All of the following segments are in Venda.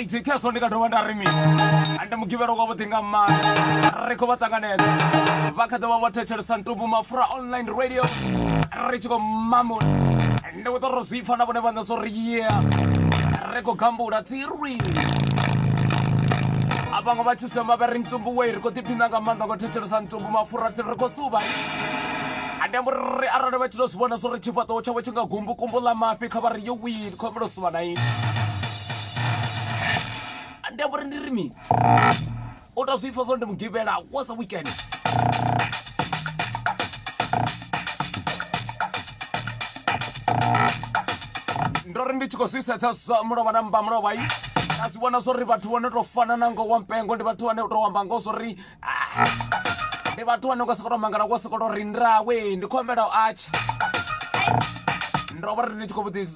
right khezwo ndi nga dovha nda ri mini ande mugivhelo kwa vhuḓi nga maanḓa ri khou vha ṱanganedza vha kha ḓovha vho thetshelesa ntumbu mafura online radio ri tshi khou mamula ndi khou ṱora zwi pfa na vhone vhaṋe zwo ri ye ri khou gambula tiri a vhaṅwe vha tshi sema vha ri ntumbu wei ri khou ḓiphina nga maanḓa ngo thetshelesa ntumbu mafura tsi ri khou suva ande ambo ri arali vha tshi to zwi vhona zwo ri tshifhaṱuwo tshavho tshi nga gumbu kumbu ḽa mafhi kha vha ri yo wii khou ambela u suva na ini ande ambo ri ndi ri mini O tou zwi pfa zwo ndi mugivhela was a weekend. Ndo ri ndi tshi khou zwi sedza zwa mulovha na mmba mulovha i nda zwi vhona zwo ri vhathu vho no tou fana na ngo wa mpengo ndi vhathu vhane u tou amba ngo zwo ri ah, ndi vhathu vhane u nga sokou tou mangala wo sokou tou ri ndawe ndi khou humbela u atsha ndo vha ri ndi tshi khou vhudzisa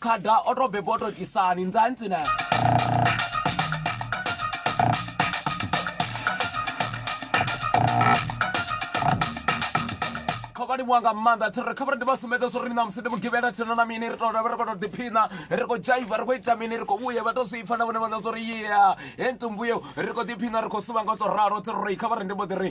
khada o to bebwa o to tisani nzantsi na khavhali wanga maanḓa thiri kha vhari ndi vha sumbedza zwo ri na musi ndi mugivhela thina na mini ri to ravha ri kho to ḓiphina ri khou dzhaiva ri khou ita mini ri khou vhuya vha to zwi pfa na vhone vhaṋa zwo ri yea he ntumbuyo ri khou ḓiphina ri khou suvha nga u to ralo thiri ri kha vhari ndi mbo ḓi ri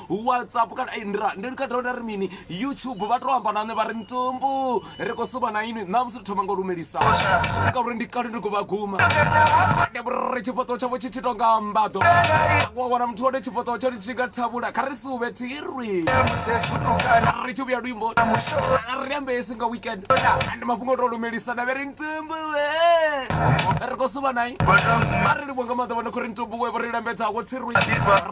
whatsapp kana ei ndira ndi kha dovha nda ri mini youtube vha to amba na nṋe vha ri ntumbu ri khou suma na inwi ṋamusi ri thoma nga u lumelisa ngauri ndi kale ndi khou vha guma ri tshifhaṱuwo tshavho tshi tshi tonga mbaḓo wa wana muthu wone tshifhaṱuwo tsho tshi nga thavhula kha ri si uvhe thirwi ri tshi vhuya luimbo ri ambesi nga weekend ndi mafhungo to lumelisa na vhe ri ntumbu ri khou suma nai a ri livho nga maḓa vha no khou ri ntumbu we vho ri lambedzaho thirwi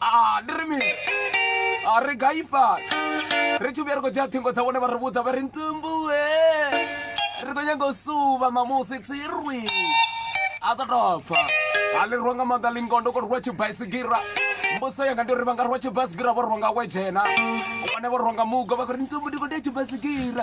a ndi ri mini a ri gai fhano ri tshi vhuya ri khou dzhia ṱhingo dza vhone vha ri vhudza vha ri ntumbuwe ri khou nyanga u suva mamusi tsirwi a ḓo tou pfa a ḽi rwa nga maanḓa lingondo ko rwa tshibaisigira mbuso yanga ndi uri vha nga rwa tshibaisigira vho rwa nga wedzhena vhone vho rwa nga mugo vha khou ri ntumbu ndi khou tea tshibaisigira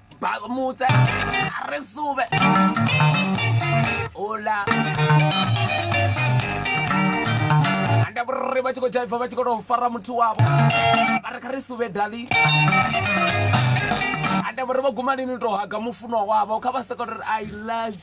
mutse a re sube ola anda vhurri vha tshi khou dzhaiva vha tshi khou tou fara muthu wavho vha ri kha ri sube dali anda vhurri vha guma lini tou haga mufunwa wavho kha vha soko ri i love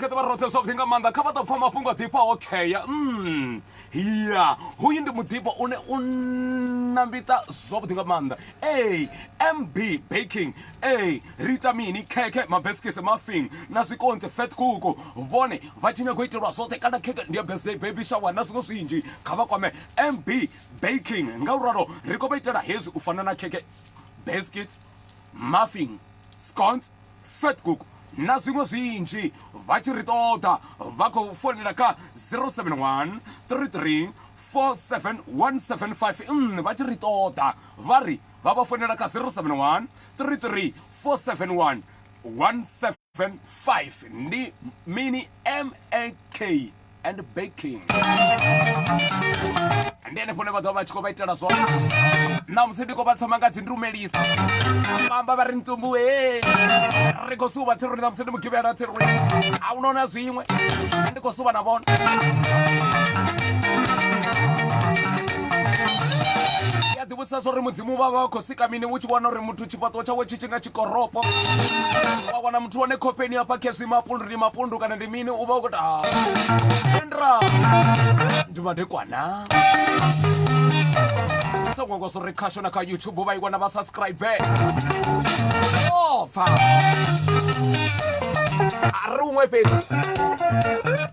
rikhaṱa vha roṱhe zwavhuḓi nga maanḓa kha vha ḓo pfa mafhungo a ḓifha okheya mm. ya hoyu ndi muḓifha une u na mbita zwavhuḓi nga maanḓa a mb baking a ri ita mini khekhe mabesikisi mafing na zwikonzi fat kuku vhone vha tshi nyago itelwa zwoṱhe kana khekhe ndi ya birthday baby shower na zwiṅwe zwinzhi kha vha kwame mb baking nga u ralo ri khou vha itela hezwi u fana na khekhe biscuit muffin scones fat kuku na zwiṅwe zwinzhi vha tshi ri ṱoḓa vha khou founela kha 071 33 47175 vha tshi ri ṱoḓa vha ri vha vha founela kha 071 33 471 175 ndi mini mak and baking ndi henefho ne vha ḓovha vha tshi khou vha itela zwone na musi ndi khou vha thoma nga dzi ndumelisa vhaamba vha ri ntumbu e ri khou suva thiruni na musi ndi mugivhela thiruni a u nona zwiṅwe ndi khou suva na vona Sa zwo ri mudzimu vha vha khou sika mini u tshi wana uri muthu tshifhaṱuwo tshawe tshi tshi nga tshikoropo wa wana muthu wane khofheni hafha khezwi mapundu ndi mapundu kana ndi mini u vha u khou ta endra ndi madekwana sa ngwangwa zwo ri khasho na kha youtube vha i wana vha subscribe o pfa a ri uṅwe fhedzi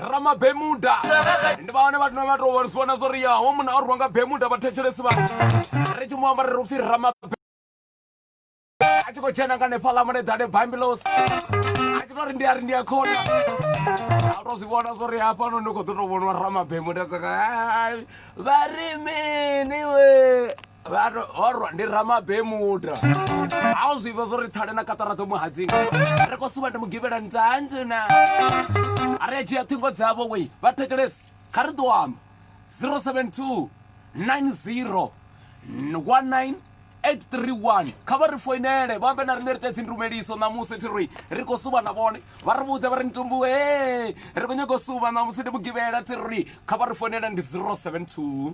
ramabemuda ndi vhaone vhathu no vha to vhonisiwa na zwo ri ya ho munna o rwiwa nga bemuda vhathetshelesi vha ri tshi mu amba ri ri upfi ramabe a tshi khou tshena nga nefhaḽa muleḓane bambilosi a tshi to ri ndi a ri ndi a khona a to zwi vhona zwo ri hafhano ndi khou ḓo to vhoniwa ramabemuda tsaka vha ri mini we orwa ndi ramabemuda a u zwiva zwo ri thale na katara dzo muhadzinga ri ko suva ndi mugivhela ntanjena a ri a dzhia ṱhingo dzavho wei vha thetshelesi kha ri ḓo amba 072 90 19 831 kha vha ri foinele vha ambe na riṋe ri tea dzindumeliso ṋamusi thi ri ri khou suva na vhone vha ri vhudza vha ri ntumbu e ri khou nyanga u suva ṋamusi ndi mugivhela thi ri kha vha ri foinele ndi 072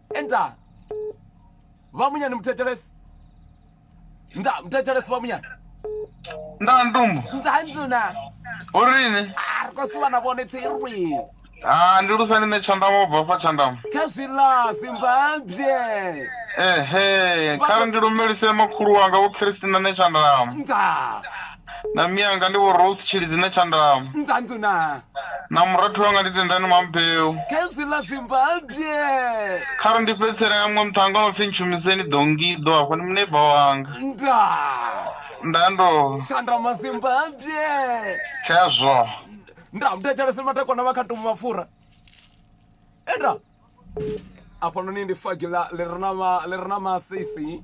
Enter. Vamunyani muteteresi. Nda muteteresi vamunyani. Nda ndumbu. Nda nzuna. Urini? Ah, ri khou suvha na vhone thirwi. Ah, ndi lusani nṋe tshandamu u bva fa tshandamu. Kha zwi ḽa Zimbabwe. Ehe, kha ri ndi lumelise makhulu wanga vho Christina nṋe tshandamu. Nda. na miyanga ndi vho rose tshilidzine tshandama ndzandu na na murathu wanga ndi tendani mambeu khezwi ḽa zimbabwe kha ri ndi fhedzisela ya muṅwe muṱhanga no pfhi ntshumiseni dongido hafho ndi muneiba wanga nda nda ndo tshandama zimbabwe khezwo nda mudetsheleseni matakwana vha kha tomu mapfura enda afhanoni ndi fagi ḽa- ḽi re na ma- ḽi re na masisi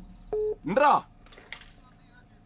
nda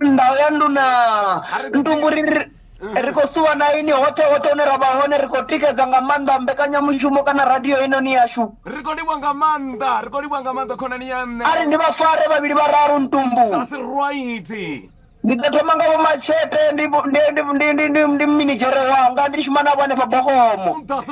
ndau ya nduna ndumbu ri ri- ri khou suwa na ini hoṱhe hoṱhe hune ra vha hone ri khou tikedza nga maanḓa mbekanyamushumo kana radio inoni yashu ri khou livha nga maanḓa ri khou livha nga maanḓa khonani ya nṋe a ri ndi vha fare vhavhili vhararu ntumbu that's right ndi ḓo thoma nga vho machete ndi ndi- ndi- ndi- ndi- ndi- ndi minidzhere wanga ndi shuma navho hanefha bogomo that's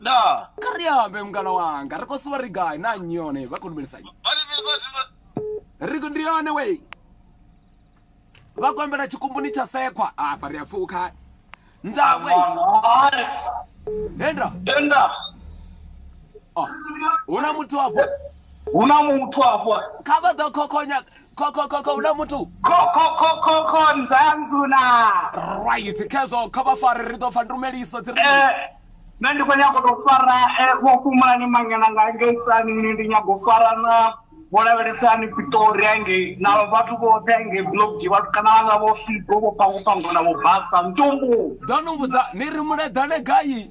ndaa kha ri ambe mungana wanga ri khou suva ri gai na nnyi yone vha khou lumelisa nnyi ri ndi yone wei vha khou ambela tshikumbuni tsha sekwa afha ri a pfuka ndaa wei henda henda ah, hu na muthu afho hu na muthu afho kha vha ḓo khokhonya khokho khokho huna muthu khokhokhokho nzanzuna right khezwo kha vha fare ri ḓo pfa ndumeliso dzi ri Eh, nṋe ndi khou nyago tou fara eh, vho fhumulani mangena nga ngei tsanini ndi nyago u fara na vho lavhelesani pitori angei na vhathu vhoṱhe angei blokji vhathu kana vhanga vho figo vho pangopangona vho basa ntumbu ḓo no vhudza ni ri muleḓane gai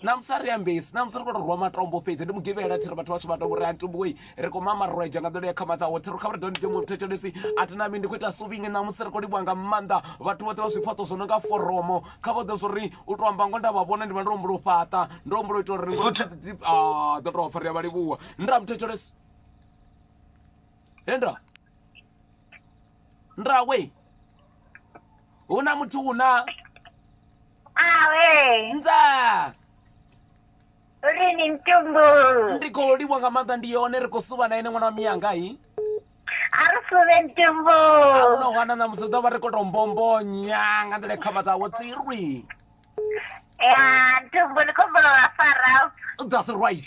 namusi a ri ambesi namusi ri khou to rwa matombo fhedzi ndi mugivhela thiri vhathu vhashu vhatombo ri antumboi ri khou mamarweja nga nḓila ya khamadza ho thiri kha vha ri doni demo thetshelesi a ti nami ndi khou ita suvingi namusi ri khou livhuwa nga maanḓa vhathu vhoṱhe vha zwifhaṱo zwo no nga foromo kha vhoḓe zwo ri u to amba ngo nda vha vhona ndi vha ndo humbula u fhaṱa ndo humbula u ita uri ḓo tou pfa ri a vha livhuwa nda muthetshelesi henda ndrawe hu na muthu hu na awe nza uri ni mtumbu ndi khou livha nga maanḓa ndi yone ri khou suvha na ene ṅwana wa miyanga hi a ri suve mtumbu ahuna hwana na musi ḓo vha ri khou tou mbombonya nga nḓila khamba dzawo tsirwi ya mtumbu ni khombo wa fara that's right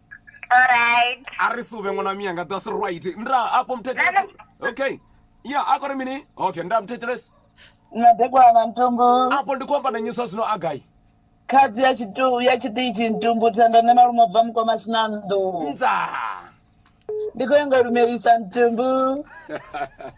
Alright. a ri suvhe ṅwana miyanga that's right nda afho muthetshelesi okay ya a kore mini okay nda muthetshelesi madekwana na ntumbu afho ndi khou amba na nnyi zwa zwino a gai khadzi ya tshitu ya tshiṱitshi ntumbu thendo nṋe malume bva mukoma sina nnḓu ndza ndi khou ya nga lumelisa ntumbu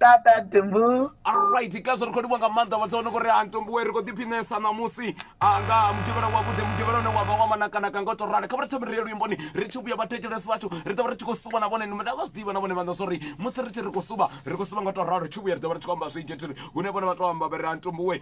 tata tumbu alright kaso ri khou livhuwa nga maanḓa vhathu vha no khou ri antombuwe ri khou ḓiphinesa ṋamusi nga mutshivhela wavhuḓi mutshivhela une wa vha wa manakanaka nga u tou rali kha vha ri thome ri ye luimboni ri tshi vhuya vhathetshelesi vhathu ri ḓo vha ri tshi khou suba na vhone nda vha zwi ḓivha na vhone vhaṋa zwori musi ri tshi ri khou suba ri khou suba nga u tou ralo ri tshi vhuya ri ḓo vha ri tshi khou amba zwinzhi thiri hune vhone vha tou amba vha ri antombuwe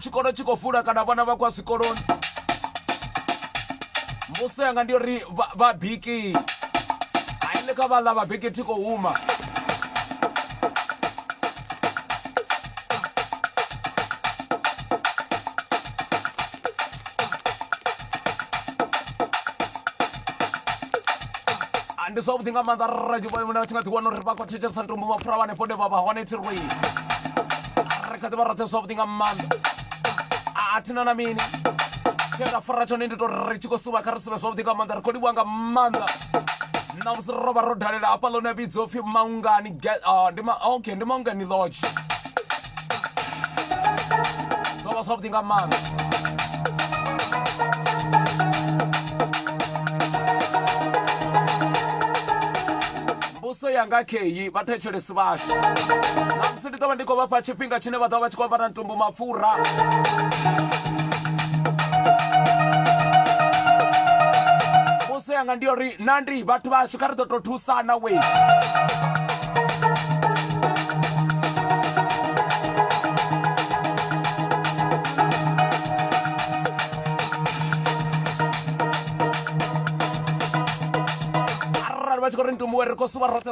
tshikolo tshi khou vula kana vhana vha khou ya zwikoloni mbuso yanga ndi uri vhabiki aile kha vhaḽa vhabiki thi khou huma ndi zwavhuḓi nga maanḓa rra tshi nga ḓiwana uri vha khou thetshelesa ntombo mapfura vhanefho ne vha vha hone thirwei ri kha ḓi vha roṱhe zwavhuḓi nga maanḓa a thina na mini tshe ra fara tshone ndi to ri tshi khou suvha kha ri suvhe zwavhuḓi nga maanḓa ri khou livhuwa nga maanḓa na musi ro vha ro dalela hafha ḽone vhidzo pfhi maungani ah, ndi ma okay ndi maungani lodge zwo vha zwavhuḓi nga maanḓa mbuso yanga kheyi vhathetshelesi vhashu ndi ḓo vha ndi khou vha fha tshifhinga tshine vha ḓo vha vha tshi khou ambara ntumbu mapfura vhuse yanga ndi uri na ndi vhathu vhashu kha ri ḓo tou thusana we arali vha tshi khou ri ntumbu we ri khou suva roṱhe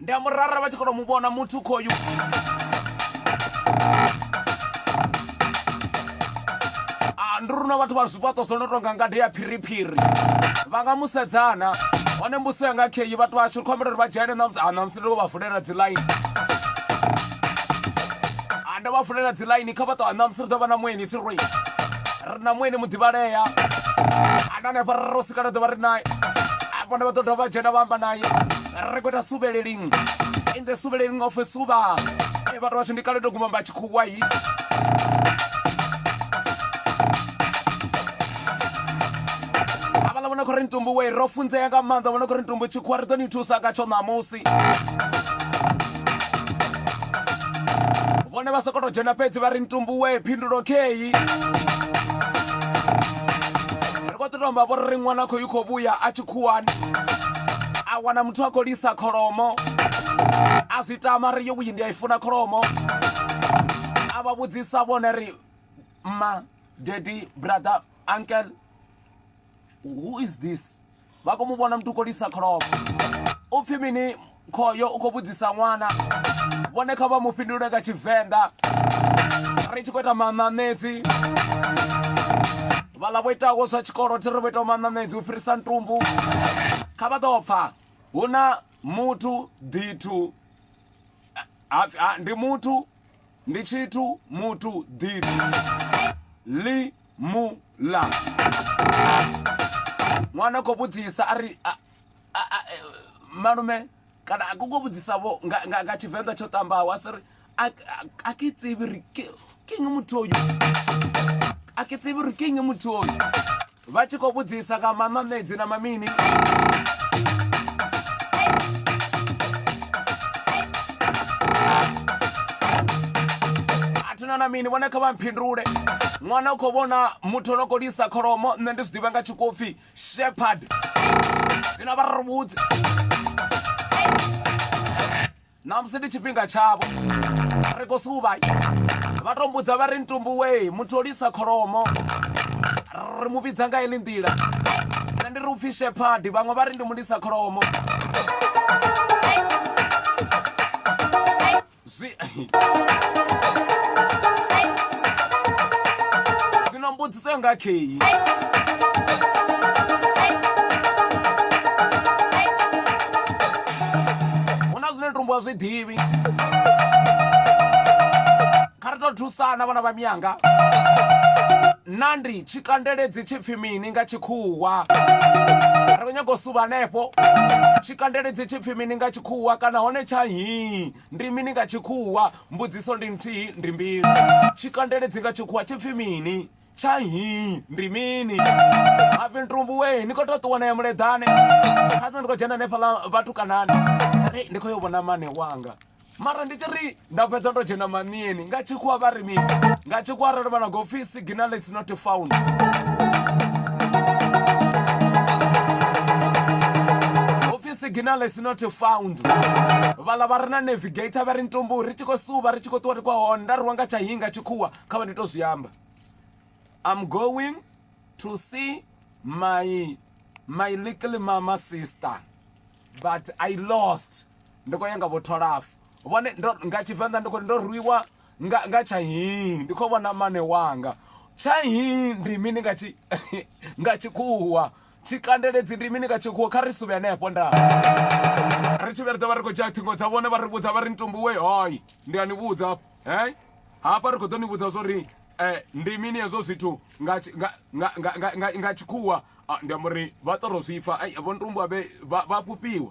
Ndi a murara vha tshi kona u mu vhona muthu khoyu. Ah, ndi runa vhathu vha zwifhaṱo zwo no tonga ngade ya phiriphiri vha nga musedzana hone mbuso ya nga kheyi vhathu vhashu ri khou ambela uri vha dzhene namusi ah, namusi ndi vho vha vulela dzi line Ah, ndo vha vulela dzi line kha vhaṱo namusi ri ḓo vha na mueni thi roi ri na mueni muḓivhalea ana hanefha ro sikana ḓo vha ri naye afho nda vha ḓo dovha vha dzhena vha amba naye ri khou ita suvheleli in the suvheleli nga ofe suvha e vhathu vhashu ndi kale to guma mba tshikhuwa yi avhala vhona khori ntumbu we ro funzea nga maanḓa vhona khori ntumbu tshikhuwa ri ḓo ni thusa nga tsho ṋamusi vhone vha sokou tou dzhena fhedzi vha ri ntumbu we phindulo kheyi ri khou ḓi tomba vho ri ṅwana khou yi khou vhuya a tshi khuwani a wana muthu a khou lisa kholomo a zwi tama ri yo vhuyi ndi a i funa kholomo a vha vhudzisa vhone ri ma daddy brother uncle who is this vha khou mu vhona muthu u khou lisa kholomo u pfhi mini khoyo u khou vhudzisa ṅwana vhone kha vha mu fhindule nga tshivenḓa ri tshi khou ita maṋaṋedzi vhaḽa vho itaho zwa tshikolo thi ri vho itaho maṋaṋedzi u fhirisa ntumbu kha vha ḓo pfha hu na muthu ḓithu ndi muthu ndi tshithu muthu ḓithu ḽi mu ḽa ṅwana khou vhudzisa a ri malume kana a koko vhudzisa vho nga nga nga tshivenḓa tsho ṱambaho a siri a ke tsibi ri ke nge muthu oyu a ke tsibi ri ke nge muthu oyu vha tshi khou vhudzisa nga mamamedzi na mamini athina na mini vhone kha vha mphindule ṅwana u khou vhona muthu ono khou lisa kholomo nṋe ndi zwi ḓivha nga tshikopfi shepherd zwino vha ri vhudze namusi ndi tshifhinga tshavho ri khou suvha vha to mbudza vha ri ntumbuwei muthu o lisa kholomo ri mu vhidza nga ili nḓila nṋe ndi ri upfhi shepherd vhaṅwe vha ri ndi mulisa kholomo zwi zwino mbudziso yanga kheyi hu na zwine tumbuwa zwi ḓivhi kha ri to thusana vhana vha miyanga na ndi tshi kandeledzi tshi pfi mini nga tshikhuwa ri khou nyaga u suva hanefho tshi kandeledzi tshi pfi mini nga Tshikhuwa kana hone tsha nhii ndi mini nga Tshikhuwa? Mbudziso ndi nthihi, ndi mbilu. Tshikandeledzi nga Tshikhuwa tshi pfi mini? Tsha nhii ndi mini? Mafhi ntumbu wee, ni khou tou ṱuwa na ya muleḓane. Kha nṋe ndi khou dzhena hanefhaḽa vhatukanani, ndi khou yo vhona mane wanga mara ndi tshi ri. nda fhedza ndo dzhena manieni nga tshikhuwa vha ri mini nga tshikhuwa arali vha na go pfhi signal it's not found signal is not found vhala vha ri na navigator vha ri ntombo ri tshi khou suva ri tshi khou ṱuwa ri kwa hone nda ri wa nga tsha hinga tshikhuwa kha vha ndi to zwi amba i'm going to see my my little mama sister but i lost ndi khou ya nga vho tholafo vhone ndo nga tshivenḓa ndi khou ndo rwiwa nga nga tsha hii ndi khou vhona mane wanga tsha hii ndi mini nga tshi nga tshikhuwa tshikandeledzi ndi mini nga tshikhuwa kha ri suvhe hanefho nda ri tshi vhe ri ḓo vha ri khou dzhia ṱhingo dza vhone vha ri vhudza vha ri ntumbuwe hoi ndi a ni vhudza hei hafha ri khou ḓo ni vhudza zwo ri um ndi mini hezwo zwithu nga nga tshikhuwa ah, ndi amba uri vha ṱoro zwipfa vho ntumbuwa vha fhufhiwa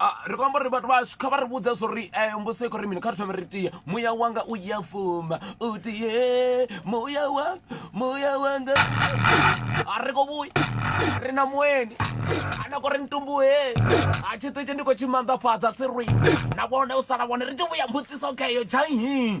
Ah, ri khou amba uri vhathu vhashu kha vha ri vhudza zwo ri eh, mbuso i khou ri mini kha ri thome ri tie muya wanga u ya fuma u tie muya wanga muya wanga a ri khou vhuya ri na mueni ana khou ri ntumbuhe a tshiṱitshi ndi khou tshi manḓafhadza tsi rwi na vhone u sala vhone ri tshi vhuya mbudziso kheyo dzhanhi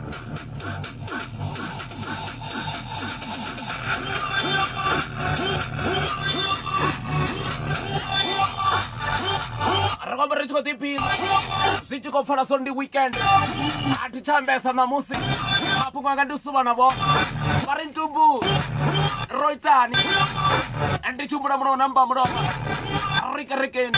ri khou ri tshi khou ḓiphina zwi tshi khou pfala so ndi weekend a thi tsha ambesa ṋamusi mafhungo anga ndi suvha na vhona vha ri ntumbu ro itani ndi tshimbula mulomo na mba mulomo rikerekeni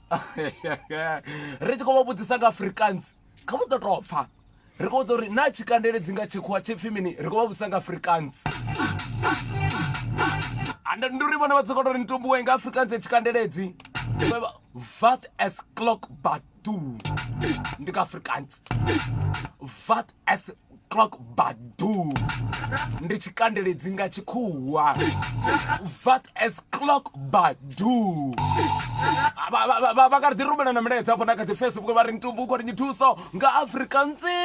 ri tshi khou vha vhudzisa nga afrikaans kha vhu ḓo tou pfha ri khou vhudza uri na tshikandele dzi nga tshikhuwa tshipfi mini ri khou vha vhudzisa nga afrikaans and ndi uri vhone vha tsokoto uri nitumbuwe nga afrikaans ya tshikandeledzi vat as clock batu ndi nga afrikaans vat as clock badu ndi tshikandeledzi nga tshikhuwa vat as clock badu vha nga ri ḓi rumela na milaedza afho na kha dzi facebook vha ri ntumbu u khou ri nyithuso nga afrika ntsi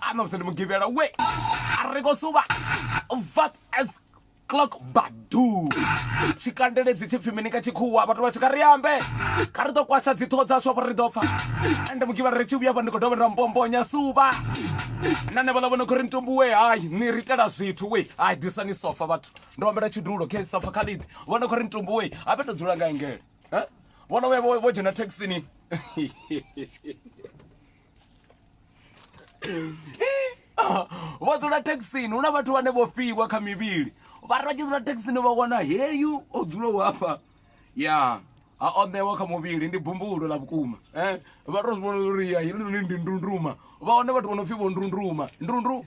a na musi ndi mugivhela we a ri khou suva vat as clock badu tshikandeledzi tshi pfi mini ka tshikhuwa vhathu vha tshi kha ri ambe kha ri ḓo kwasha dziṱhoho dzashu afha ri ḓo pfa ende mugivhari ri tshi vhuya fha ndi khou dovha nda mbombonya suvha na ne vhaḽa vho no khou ri ntumbuwe hayi ni ri itela zwithu we hayi ḓisani sofa vhathu ndo ambela tshidulo khe sofa kha ḽiḓi vho no khou ri ntumbuwe ha fhe to dzula nga engele vho no vhuya vho dzhena thekhisini vha dzula thekhisini hu na vhathu vhane vho fhiwa kha mivhili vha ri vha tshi dzula thekhisini vha wana heyu o dzulaho hafha ya a o ṋewa kha muvhili ndi bumbulo ḽa vhukuma eh, vha to zwi vhona uri ya helinoni ndi ndunduma vha wane vhathu vho no pfhi vho ndunduma ndundu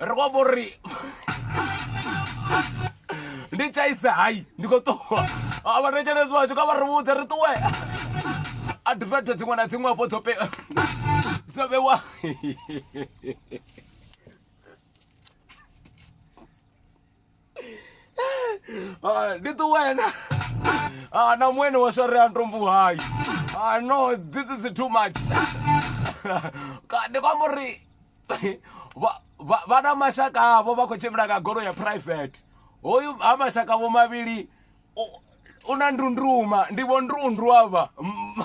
ri khou amba uri ndi tshaisa hai ndi khou ṱuwa avhathetshelezi vhathu kha vha ri vhudze ri ṱuwe advert dziṅwe na dziṅwe afho dzo dzo vhewa Ah, ndi ṱuwena Ah, na mwene wa swareya ntombo hayi Ah, no this is too much Ka- ndi kwamba uri vha- vha- vha na mashaka avho vha khou tshimbila nga golo ya private hoyu ha mashaka vho mavhili u- u na ndunduma ndi vho ndrundu avha Mm.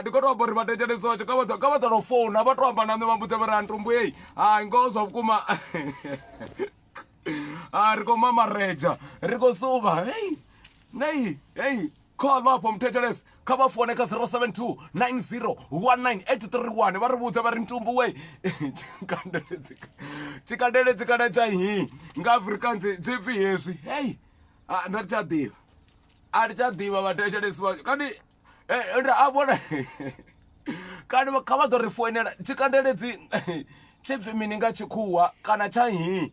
ndi kho to amba uri vhatetshelesi watsho kha vha ḓa no founa vha to amba na nṋe vha mbudza vha ri antumbu ei hai ngoho zwa vhukuma ri khou mamareja ri khou suva hei nei hei call vha afho muthetshelesi kha vha fone kha 072 90 19831 vha ri vhudza vha ri ntumbu we tshikandeledzi kana tsha hi nga afrikaans zwi pfi hezwi hei nda ri tsha ḓivha a ri tsha ḓivha vhathetshelesi vha kani nda a vhona kani kha vha ḓo ri foinela tshikandeledzi tshi pfi mini nga tshikhuwa kana tsha hi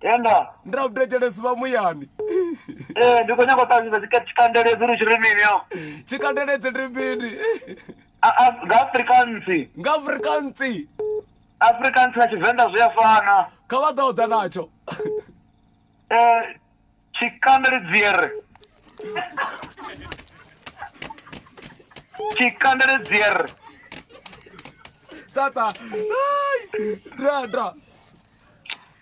tenda ndi na vhudetshelesi vha muyani ee ndi khou nyanga u ṱalutshedza tshika- tshikandeledzi uri tshi ri mini yo tshikandeledzi ndi mini A- a- nga afrikansi nga afrikansi afrikansi na tshivenḓa zwi a fana kha vha ḓa u ḓa natsho ee Tshikanda ndi dziere. Tshikanda ndi dziere. Tata. Ai. Dra dra.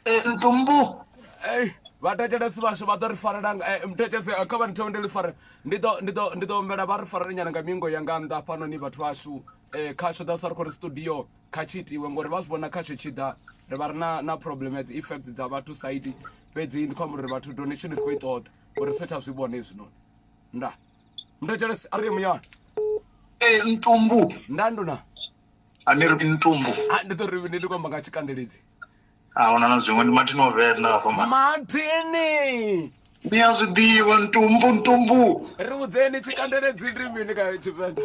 Eh, ntumbu. Ei, vhathetshelesi vhashu vha ḓo ri farela nga- eh, muthetshelesi eh, kha vha ntheo ndi ḽi fare ndi ḓo ndi ḓo ndi ḓo humbela vha ri farele nyana nga mingo ya nga nnḓa hafhanoni vhathu vhashu um khasho that's why ri khou ri studio kha tshi itiwe ngori vha zwi vhona khasho tshi ḓa ri vha ri na na problem ya dzi effect dza vhathu side fhedzi ndi khou amba uri vhathu donation ri khou i ṱoḓa uri ri satha zwi vhona hezwinoni nda nda jeles a ri ye muyani ee ntumbu nda nduna a ni ri ntumbu a ndi ḓo ri ndi ndi khou amba nga tshikandeledzi a huna na zwiṅwe ndi mathini o venḓa hafha ma mathini ni a zwi ḓivha ntumbu ntumbu ri vhudzeni tshikandeledzi ndi mini kha tshivenḓa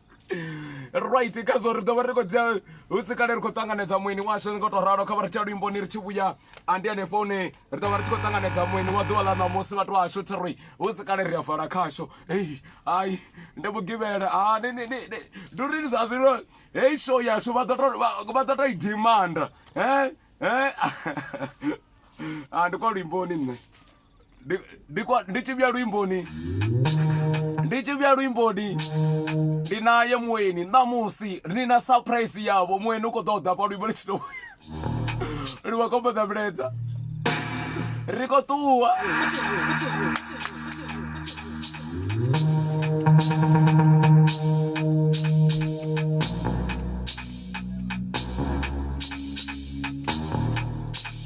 right kha zwo ri ḓo vha ri khou dzia hu si kale ri khou ṱanganedza mueni washu nga tou ralo kha vha ri tsha luimboni ri tshi vhuya andi hanefho hune ri ḓo vha ri tshi khou ṱanganedza mueni wa ḓuvha ḽa ṋamusi vhathu vhashu thi ri hu si kale ri a vala khasho hei hai ndi vhugivhela ha ndi uri zwa zwino hei show yashu vha ḓo tou i dimanda he he a ndi kwa luimboni nṋe Ndi- ndi kwa- ndi tshi vhuya luimboni ndi tshi vhuya luimboni ndi naye mueni ṋamusi ni na surprise yavho mueni u khou ḓo ḓa pa luimbo litshino ri vha khombo ḓa miledza ri khou ṱuwa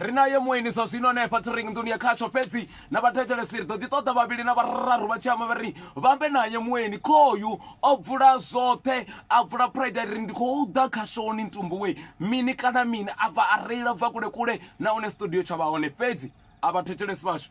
ri naye mueni zwa zwino hanefha tiring nḓuni ya khatsho fhedzi na vhathetshelesi ri ḓo ḓi ṱoḓa vhavhili na vhararu vha tshi amba vha ri vhambe naye mueni khoyu o bvula zwoṱhe a bvula pride ri ndi khou ḓa khashoni ntumbuwe mini kana mini a bva a reila bva kule kule nahone studio tsha vha hone fhedzi a vhathetshelesi vhashu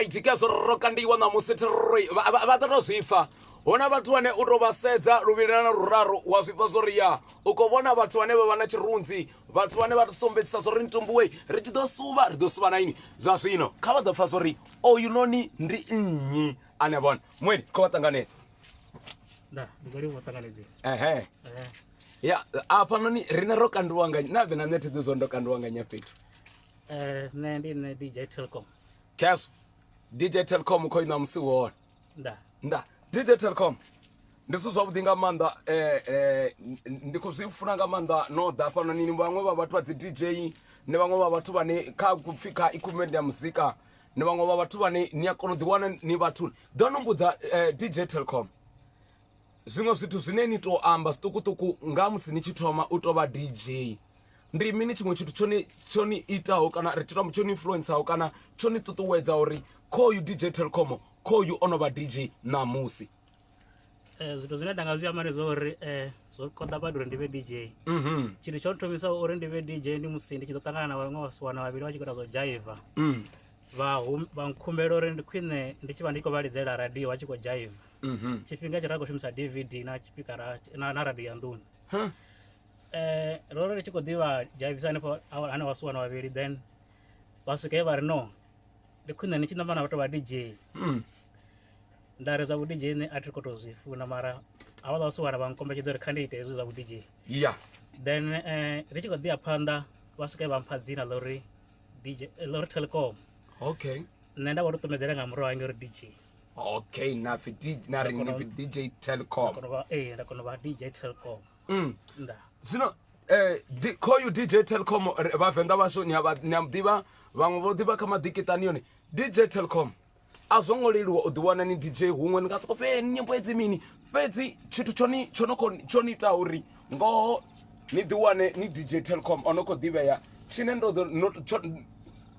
right ke zwo ro kandiwa ṋamusi thiroi vha ḓo tou zwi pfa hu na vhathu vhane u tou vha sedza luvhilana na luraru wa zwi pfa zwo ri ya u khou vhona vhathu vhane vha vha na tshirunzi vhathu vhane vha ri sumbedzisa zwo ri ntumbuwe ri tshi ḓo suvha ri ḓo suvha na ini zwa zwino kha vha ḓo pfa zwo ri oyu noni ndi nnyi ane vhona mweni kho vha ṱanganedza nda ndi khou livha u ṱanganedzea ehe ya afhanoni rine ro kandiwa nga na vhe na nṋe thiḓi zwo ndo kandiwa nga nya fhethu eh nṋe ndi nṋe dj telcom keso dj telcom khoi na musi wone nda nda dj telcom ndi zwithu zwavhuḓi nga maanḓa um ndi khou zwi funa nga maanḓa no ḓa hafhanoni ni vhaṅwe vha vhathu vha dzi dj ni vhaṅwe vha vhathu vhane kha kupfhi kha equipment ya muzika ni vhaṅwe vha vhathu vhane ni a kona u ḓiwana ni vhathu ḓo no mbudza um dj telcom zwiṅwe zwithu zwine ni to amba zwiṱukuṱuku nga musi ni tshi thoma u tovha dj ndi mini tshiṅwe tshithu tshone tsho ni itaho kana ri tshithu tsho ni influenceaho kana tsho ni ṱuṱuwedza uri khoyu dj telcom khoyu o no vha dj ṋamusi eh, zwithu zwine nda nga zwi amba ndi zwa uri um zwo konḓa badi uri ndi vhe dj mhm. tshithu tsho thomisa uri ndi vhe dj ndi musi ndi tshi ḓo ṱangana na vhaṅwe vhasiwana vhavhili vha tshi khou ita zwo jaiva mm. vha nkhumbela uri ndi khwine ndi tshi vha ndi khou vha lidzela radio vha tshi khou jaiva Mhm. tshifhinga tshe ra khou shumisa dvd na tshipikara na, na radio ya nḓuni Huh. eh ro ri tshi khou ḓivha dzhavisa hanefho awa- hanefho vhasuwa na vhavhili then vha swika he vha ri no ndi khwine ni tshi namba na vhathu vha dj Mm. nda ri zwa vhu dj nṋe a thi khou tou zwi funa mara havha vha vhasuwana vha nkombetshedza uri kha ndi ite hezwi zwa vhu dj Yeah. then eh ri tshi khou ḓi ya phanḓa vha swika he vha mpha dzina ḽa uri dj ḽa uri telecom Okay. nṋe nda vha tou ṱumedzela nga murahu hange uri dj okay na pfi D- na ri ni pfi dj nda telcom kona u vha ee nda kona u vha dj telcom Mm. nda zwino eh, di- khoyu dj telcom ri- vhavenḓa vhashu ni a vha- ni a muḓivha vhaṅwe vho ḓivha kha maḓikitani yone dj telcom a zwo ngo leluwa u ḓiwana ni dj huṅwe ni nga soko fe nyimbo edzi mini fhedzi tshithu tshoni tsho no khou- tsho ni ita uri ngoho ni ḓiwane ni dj telcom o no khou ḓivhea tshine ndo ḓo- no- tsho-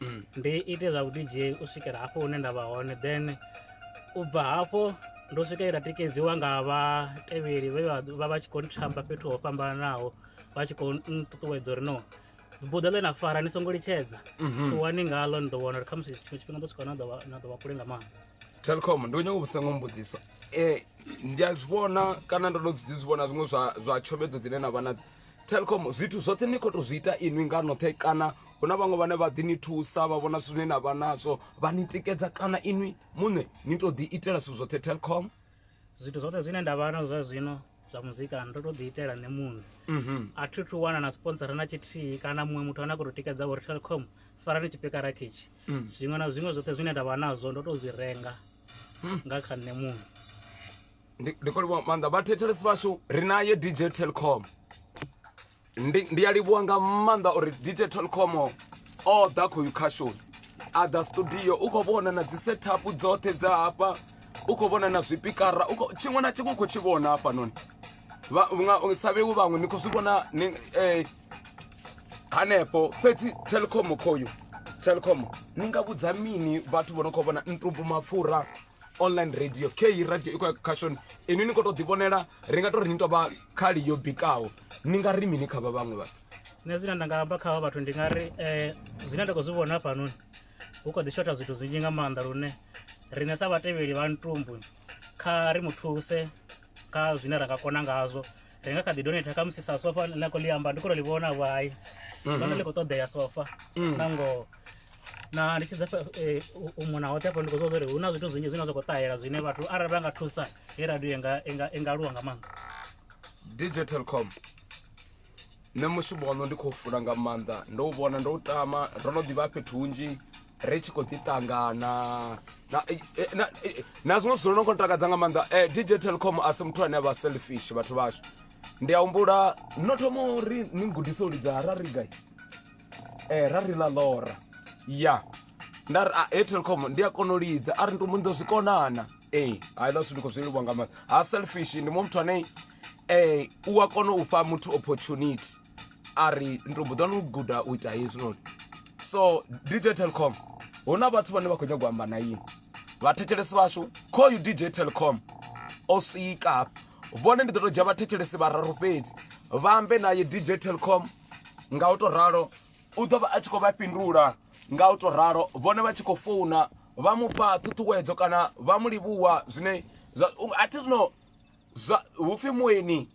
mm. ndi ite zwa vhudj u swikela hafho hune nda vha hone then u bva hafho ndo swika ita tikedziwa nga vhatevheli vhe vha vha tshi khou nthamba fhethu ho fhambananaho vha tshi khou nṱuṱuwedza uri no buḓa ḽe na fara ni songo litshedza mhm. ṱuwani ngalo ni ḓo vhona uri khamusi tshiṅwe tshifhinga ḓo swika na ḓo vha kule nga maanḓa telcom ndi u nyanga u vhusengo mbudziso um ndi a zwi vhona kana ndo no zwi vhona zwiṅwe zwa tshomedzo dzine na vha nadzo Telkom zwithu zwoṱhe ni khou tou zwi ita inwi nga noṱhe kana hu na vhaṅwe vhane vha ḓi ni thusa vha vhona zwithu zwine na vha nazwo vha ni tikedza kana inwi muṋe ni tou ḓi itela zwithu zwoṱhe telkom zwithu zwoṱhe zwine nda vha na zwa zwino zwa muzika ndo tou ḓi itela nṋe muṋe mhm. a thi thu wana na sponsora na tshithihi kana muṅwe muthu ane a khou tou tikedza uri telkom farani tshipikara khetshi mm. zwiṅwe na zwiṅwe zwoṱhe zwine nda vha nazwo ndo tou zwi renga mm. nga kha nṋe muṋe ndi khou livhuwa maanḓa vhathetshelesi vhashu ri naye dj telcom ndi a livhuwa nga maanḓa uri dj telcom o ḓa khoyu khashoni a ḓa studio u khou vhona na dzi setup dzoṱhe dza hafha u khou vhona na zwipikara tshiṅwe na tshiṅwe u khou tshi vhona hafhanoni sa vhewu vhaṅwe ni khou zwi vhona eh, hanefho fhedzi telcom khoyu telcom ni nga vhudza mini vhathu vho no khou vhona ntumbu mapfura online radio kheyi radio i khou ya khashoni inwi ni khou tou ḓivhonela ri nga tou ri ni tou vha khali yo bikaho ni nga ri mini kha vha vhaṅwe vhathu nṋe zwine nda nga amba kha vha vhathu ndi nga ri um zwine nda khou zwi vhona hafhanoni hu kho ḓi shotha zwithu zwinzhi nga maanḓa lune riṋe sa vhatevheli vha ntumbu kha ri mu thuse kha zwine ra nga kona ngazwo ri nga kha ḓi donate khamusi sa sofa ḽa khou ḽi amba ndi khou tou ḽi vhona vhai vhona mhm. ḽi khou ṱoḓea sofa mm. na ngoho na ndi tshi dza eh, u mona hoṱhe afho ndi khou zwa uri hu na zwithu zwinzhi zwine zwa khou ṱahela zwine vhathu arali vha nga thusa he radio i nga aluwa nga maanḓa dj telcom nṋe mushumo waṋu ndi khou funa nga maanḓa ndo u vhona ndo u tama ro no ḓivha fhethu hunzhi ri tshi khou ḓi ṱangana na eh, eh, eh, na zwiṅwe zwithu no ngo takadza nga maanḓa um dj telecom a si muthu ane a vha selfish vhathu vhashu ndi a humbula no thoma uri ni gudise u lidza ra ri gai um ra ri ḽa lora ya nda ri a ah, telecom ndi a kona u lidza a ri ndi mundo zwi konana ee hai ḽa zwithu ndi khou zwi livhwa nga maanḓa ha selfish ndi mu muthu ane um u a kona u fha muthu opportunity a ri ndo mbo ḓi wana u guda u ita hezwinoni so dj telcom hu na vhathu vhane vha khou nyagwa amba na ini vhathetshelesi vhashu call you dj telcom o swika hafha vhone ndi ḓo to dzhia vhathetshelesi vhararu fhedzi vha ambe naye dj telcom nga u to ralo u ḓo vha a tshi khou vha fhindula nga u to ralo vhone vha tshi khou founa vha mufha ṱhuṱhuwedzo kana vha mu livhuwa zwine a thi zwino hupfi mueni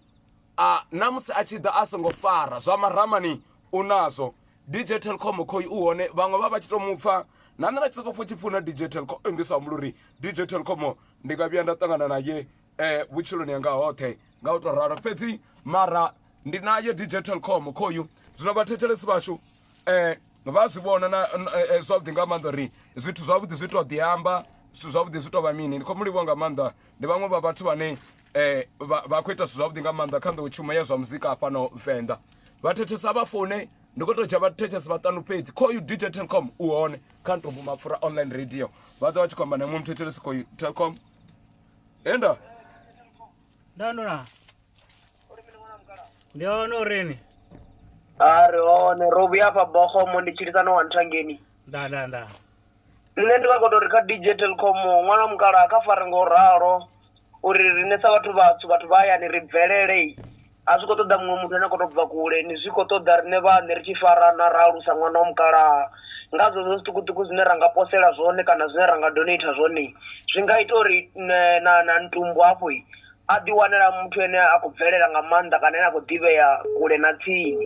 a na musi a tshi ḓa a songo fara zwa maramani u nazwo dj telcom khoi u hone vhaṅwe vha vha tshi to mupfa na nṋe na tshi soko pfha tshi pfuna dj telcom eh, ndi sa humbula uri dj telcom ndi nga vhuya nda ṱangana naye um vhutshiloni yanga hoṱhe nga u to ralo fhedzi mara ndi naye dj telcom khoyu zwino vhathetshelesi vhashu um vha zwi vhona na eh, zwavhuḓi nga maanḓa uri zwithu zwavhuḓi zwi to ḓi amba zwithu zwavhuḓi zwi to vha mini ndi khou mu livhuwa nga maanḓa ndi vhaṅwe vha vhathu vhane eh vha vha khou ita zwithu zwavhuḓi nga maanḓa kha nḓowetshumo ya zwa muzika hafhano venḓa vha thetshelesa vha foune ndi khou tou dzhia vha thetshelesa vhaṱanu fhedzi khoyu dj telcom u hone kha ntombo mapfura online radio vha ḓo vha tshi khou amba na muṅwe muthetshelesi khoyu telcom enda nda ndo na ndi hone urini a ri hone ro vhuya afha bogomo ndi tshilisano wa nthangeni nda nda nda Nṋe ndi nga kona uri kha DJ Telkom ṅwana wa mukalaha kha fare ngo ralo uri riṋe sa vhathu vhatswu vhathu vha hayani ri bvelele a zwi kho ṱoḓa muṅwe muthu ane a kho to bva kule ni zwi kho ṱoḓa riṋe vhaṋe ri tshi farana ra alusa ṅwana wa mukalaha nga zwezwo zwiṱukuṱuku zwine ra nga posela zwone kana zwine ra nga donater zwone zwi nga ita uri na na ntumbu hafho a ḓi wanela muthu ane a khou bvelela nga maanḓa kana ane a kho ḓivhea kule na tsini.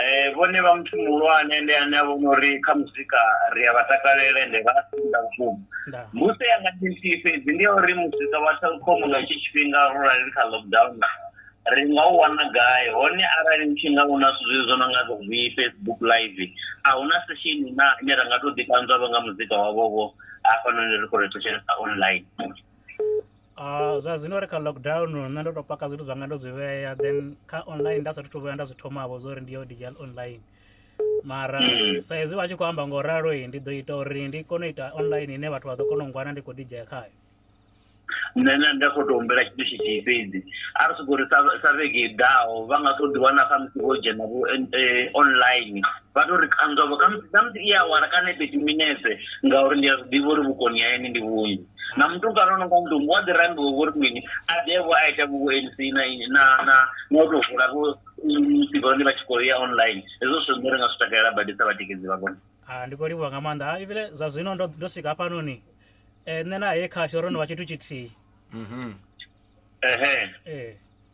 Eh vhone vha muthu muhulwane ndi ane a vhona uri kha muzika ri a vha takalela ende vha senda vhukuma musi ya nga tshithihi fhedzi ndi ya uri muzika wa telkom nga tshi tshifhinga ro rali kha lockdown ri nga u wana gai hone arali ni tshi nga u na zwithu zwezwo no nga vhi facebook live a hu na session na ine ra nga to ḓi ṱanzwa vho nga muzika wavho vho hafhanoni ri khou ri thetshelesa online Ah, zwa zwino ri kha lockdown nṋe ndo to paka zwithu zwanga ndo zwi vhea then kha online nda sathu to vhuya nda zwi thomavho zwo uri ndi yo digital online mara mm. sa hezwi vha tshi khou amba ngo ralo i ndi ḓo ita uri ndi kone u ita online ine vhathu vha ḓo kona u ngwana ndi khou dijea khayo nṋe na nda khou to humbela tshithu tshithihi fhedzi a ri sokou ri sa vhege i ḓaho vha nga to ḓi wana khamusi vho dzhena vho eh, online vha to ri kanzwavho khamusi khamusi i awara kana fhethu minetse ngauri ndi a zwi ḓivha uri vhukoni ha ene ndi vhunzhi na mutukana ano nga mutumbu wa ḓi rambiwa vho ri mini a ḓevho a ita vhuvo anc na na na na u tou vula vho sivhone vha tshi khou ya online hezwo zwithu zwine ri nga zwi takalela badi sa vhatikedzi vha vhone ah, ndi khou livhuwa nga maanḓa ah, ivhile zwa zwino ndo ndo swika hafhanoni um nṋe na he khasho ro no vha tshithu tshithihi mhm. ehe eh.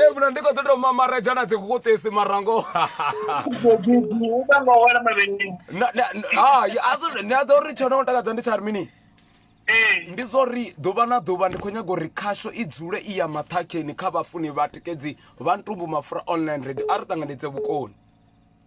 hemuna ndiko ḓo tou mamaredza na dzikukutisi marango ni a ḓo ri tsho no ngo takadza ndi tsha ri mini ndi zwo ri ḓuvha na ḓuvha ndi khou nyaga uri khasho i dzule i ya maṱhakheni kha vhafuni vha tikedzi vha ntumbu mafura online radio a ri ṱanganedze vhukoni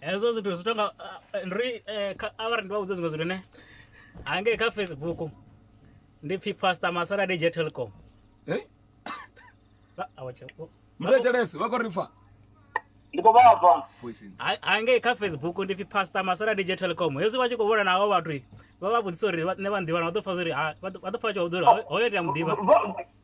hezwo zwithu zwi tonga eh, ndi ri eh, kha- arali ndi vha vhudze zwiṅwe zwithu ne hangei kha facebook ndi pfhi pastor masala dj telcom Eh? Vha- awa tshe- o- muthu atelesi vha khou ri pfa ndi khou vha pfa voice in. Ha- hangei kha facebook ndi pfhi pastor masala dj telcom hezwi vha tshi khou vhona navho vhathu vha vha vhudzisa uri vha- nṋe vha nḓivhana vha ḓo pfa zwori ha- vha ḓo vha ḓo pfa vha tshi vha vhudza uri "Ho- hoyo ndi a muḓivha Vho-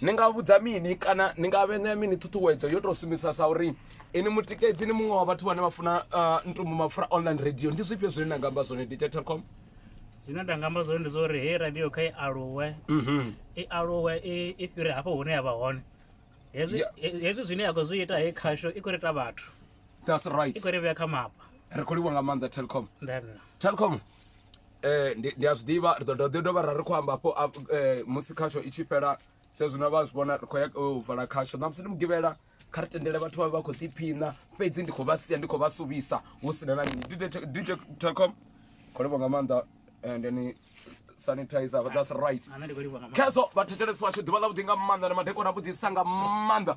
ni nga vhudza mini kana ni nga vhea mini ṱhuṱhuwedzo yo tou sumbedzisa sa uri ini mutikedzi ni muṅwe wa vhathu vhane vha funa uh, ntumbu mapfura online radio ndi zwifhio zwine na nga amba zwone dj telcom zwine nda nga amba zwone ndi zwa uri heyi radio kha i aluwe mhm. i aluwe i fhire hafho hune ya vha hone hezwi zwine ya khou zwi ita heyi khasho i khou ri ita vhathu that's right i khou ri vhea kha mapa ri khou livha nga maanḓa telcom telcom eh ndi ndi a zwi ḓivha ri ḓo dovha ḓi dovha ra ri khou amba hafho a- eh, musi khasho i tshi fhela sa zwino vha zwi vhona ri khou ya u vala khasho ṋamusi ndi mugivhela kha ri tendele vhathu vha vha khou ḓiphiṋa fhedzi ndi khou vha sia ndi khou vha suvhisa hu si na na mini DJ Te- dj telcom khou livho nga maanḓa and then sanitizer but that's right Ana ndi khou livhuwa nga maanḓa. khezwo vhathetshelesi vhashu ḓuvha ḽa vhuḓi nga maanḓa na madekwana a vhuḓisa nga maanḓa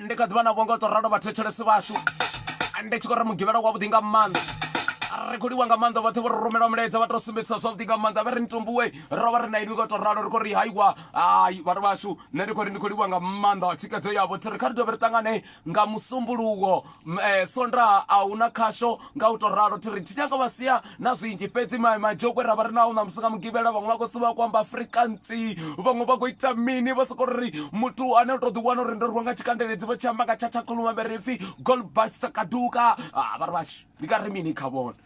ndi kha ḓivha na vhongo to ralo vhathetshelesi vhashu ndi tshi khou ri mugivhela wavhuḓi nga maanḓa ri khou liwa nga maanḓa vhoṱhe vho ri rumela mulaedza vha to sumbedzisa zwavhuḓi nga maanḓa vha ri mitumbuwe ro vha ri na inwi ngo to ralo ri khou ri haiwa hai vhathu vhashu nṋe ndi khou ri ndi khou livhuwa nga maanḓa thikedzo yavho thi ri kha ri dovhe ri ṱangane nga musumbuluwo um eh, sondaha a hu na khasho nga u tou ralo thi ri thi nyanga vha sia na zwinzhi fhedzi majokwe ra vha ri naho ṋamusi nga mugivhela vhaṅwe vha khou suvha ku amba afrikansi vhaṅwe vha khou ita mini vha sokou ri muthu ane u tou ḓiwana uri ndo rwiwa nga tshikandeledzi vha tshi amba nga tshatshakhuluma vhe ri pfi golbasakaduka vha ri vhashu ndi nga ri mini kha vhone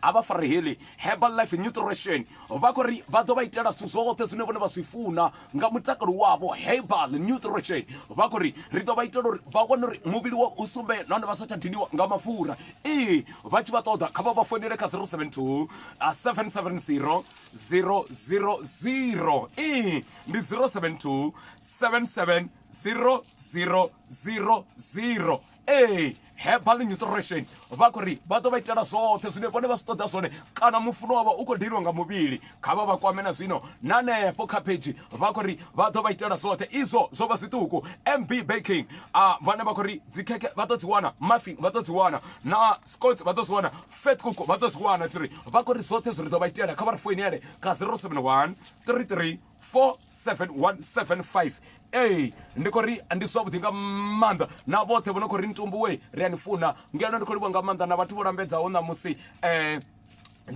A vha Fareheli Herbal Life Nutrition vha khou ri vha ḓo vha itela zwithu zwoṱhe zwine vhone vha zwi funa nga mutakalo wavho. Herbal Nutrition vha khou ri ri ḓo vha itela uri vha wane uri muvhili wavho u sumbee nahone vha sa tsha diniwa nga mapfura. Ee, vha tshi vha ṱoḓa kha vha vha founele kha 072 770 000. Ee, ndi 072 77 000. ee herbal nutrition vha khou ri vha ḓo vha itela zwoṱhe zwine vhone vha zwi ṱoḓa zwone kana mufuno wavha u khou deliwa nga muvhili kha vha vha kwame na zwino na hanefho kha phedzhi vha khou ri vha ḓo vha itela zwoṱhe izwo zwo vha zwiṱuku mb baking a vhane vha khou ri dzikhekhe vha ḓo dzi wana mafin vha ḓo dzi wana na scots vha ḓo zwi wana fat cook vha ḓo zwi wana tsiri vha khou ri zwoṱhe zwi ri ḓo vha itela kha vha ri foinele ka 071 33 47175 ee ndi khou ri ndi zwavhuḓi nga maanḓa na vhoṱhe vho no khou ri ntumbuwe ri a ni funa ngeno ndi khou livha nga maanḓa na vhathu vho lambedzaho ṋamusi um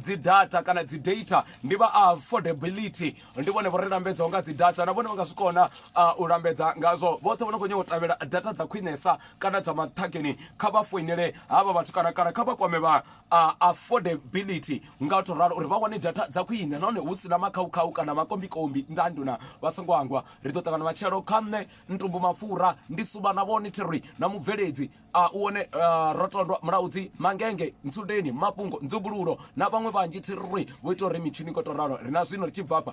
dzi data kana dzi data ndi vha affordability ndi vhone vho ri lambedzaho nga dzi data na vhone vha nga zwi kona u lambedza ngazwo vhoṱhe vho no khou nyanga u tevhela data dza khwinesa kana dza maṱhakeni kha vha foinele havha vhathu kana kana kha vha kwame vha a affordability nga u to ralo uri vha wane data dza khwine nahone hu sina makhaukhau kana makombikombi nga nduna vha songo angwa ri ḓo ṱangana matshelo kha nṋe ntumbu mapfura ndi suba na vhone thiri na mubveledzi a u one rotondwa mulaudzi mangenge ntsundeni mafhungo nzumbululo na vhaṅwe vhanzhi thiri vho ita uri mitshini ko to ralo ri na zwino ri tshi bvafha